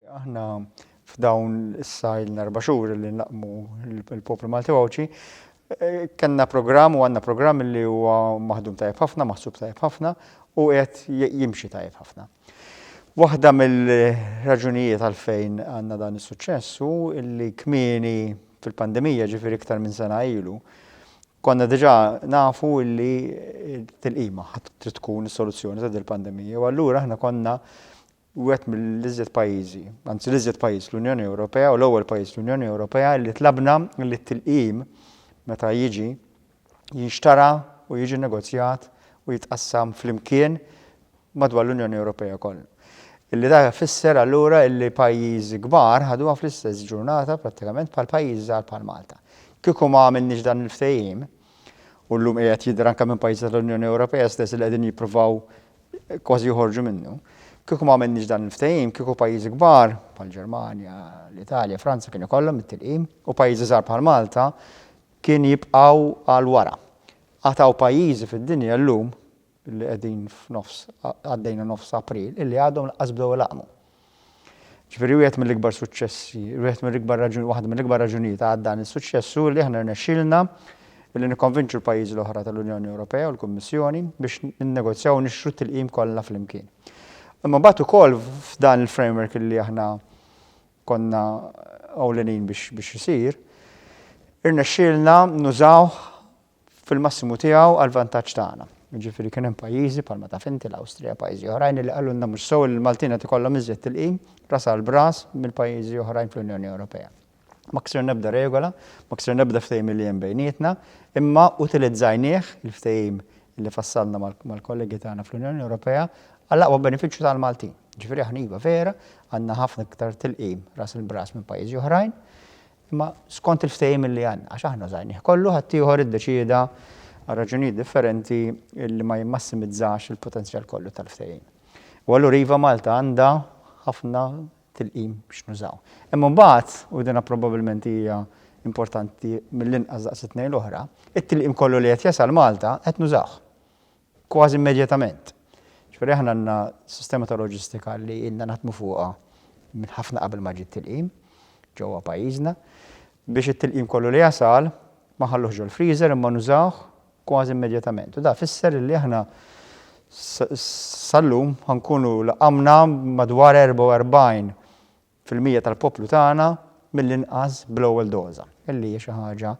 Aħna f'dawn issa ilna erba' xhur li nlaqqmu l-poplu Malti u Għawdxi, kellna programm u għandna programm li huwa maħdum tajjeb ħafna, maħsub tajjeb ħafna u qiegħed jimxi tajjeb ħafna. Waħda mill-raġunijiet għalfejn għandna dan is-suċċess hu li kmieni fil-pandemija, ġifieri iktar minn sena ilu, konna diġà nafu li t-tilqima ħadd trid tkun is-soluzzjoni ta' dil-pandemija u allura aħna konna wieħed mill-iżjed pajjiżi, anzi l-iżjed pajjiż l-Unjoni Ewropea u l-ewwel pajjiż l-Unjoni Ewropea li tlabna li t-tilqim meta jiġi jinxtara u jiġi negozjat u jitqassam flimkien madwar l-Unjoni Ewropea kollha. Illi dak ifisser allura illi pajjiżi kbar ħaduha fl-istess ġurnata prattikament bħal pajjiżi żgħar bħal Malta. Kieku ma għamilniex dan il-ftehim, u llum qiegħed jidher anke minn pajjiżi tal-Unjoni Ewropea stess li qegħdin jippruvaw kważi joħorġu minnu. Kieku ma għamilniex dan il-ftehim, kieku pajjiżi kbar bħal Ġermanja, l-Italja, Franza kien ikollhom it-tilqim u pajjiżi żgħar bħal Malta kien jibqgħu għal wara. Għad hawn pajjiżi fid-dinja llum li qegħdin f'nofs, għaddejna nofs April, illi għadhom lanqas bdew ilaqqmu. Ġifieri wieħed mill-ikbar suċċessi, wieħed mill-ikbar raġunijiet, waħda mill-ikbar raġunijiet għal dan is-suċċess hu li aħna rnexxielna li nikkonvinċu l-pajjiżi l-oħra tal-Unjoni Ewropea u l-Kummissjoni biex ninnegozjaw u nixtru t-tilqim kollha flimkien. Imma mbagħad ukoll f'dan il-framework li aħna konna ewlenin biex isir, irnexxielna nużawh fil-massimu tiegħu għall-vantaġġ tagħna. Jiġifieri kien hemm pajjiżi bħalma taf inti l-Awstrija, pajjiżi oħrajn li qalulna mhux sew li l-Maltin qed ikollhom iżjed tilqim ras għal b'ras mill-pajjiżi oħrajn fl-Unjoni Ewropea. Ma ksirna ebda regola, ma ksirna ebda ftehim li hemm bejnietna, imma utilizzajnieh, il-ftehim li fassalna mal-kollegi tagħna fl-Unjoni Ewropea, għall-aqwa benefiċċju tal-Maltin. Jiġifieri aħna iva vera għandna ħafna iktar tilqim ras il-b'ras minn pajjiżi oħrajn, Imma skont il-ftehim li għandna, għax aħna użajnieh kollu, ħaddieħor iddeċieda, għal raġunijiet differenti, li ma jimmassimizzax il-potenzjal kollu tal-ftehim. U allura iva Malta għandha ħafna tilqim biex nużaw. Imma imbagħad, u din probabbilment hija importanti mill-inqas daqs it-tnejn l-oħra, it-tilqim kollu li qed jasal Malta qed nużawh. kważi immedjatament. Jiġifieri aħna għandna sistema ta' loġistika li ilna naħdmu fuqha minn ħafna qabel ma ġie t-tilqim ġewwa pajjiżna biex it-tilqim kollu li jasal ma nħalluhx ġol-freezer imma nużawh kważi immedjatament. U dan fisser illi aħna sal-lum ħa nkunu laqqamna madwar 44 fil-mija tal-poplu tagħna mill-inqas bl-ewwel doża, li hija xi ħaġa,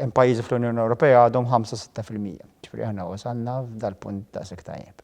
hemm pajjiżi fl-Unjoni Ewropea għadhom ħamsa, sitta fil-mija. Ġifieri aħna wasalna f'dal-punt daqshekk tajjeb.